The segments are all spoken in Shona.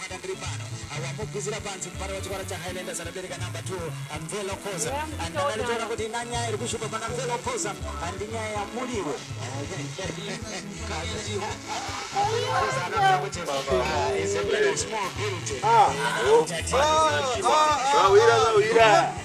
Mwana muri pano awamugwizira panzi mupari wechikora chaHighlanders anobereka number 2 Mvelo Khoza and anaritoona kuti ina nyaya iri kushupa pana Mvelo Khoza and nyaya yamuriwo Zvawira zvawira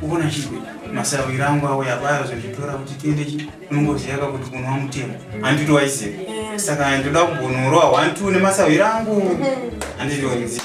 Kuvona chizwe masawira angu awo yabayo zvezvitora kuti tiende chi unongoziva ka kuti kunwa mutemo handito waiziva saka ndoda kumbonorowa one two nemasawira angu handito waiziva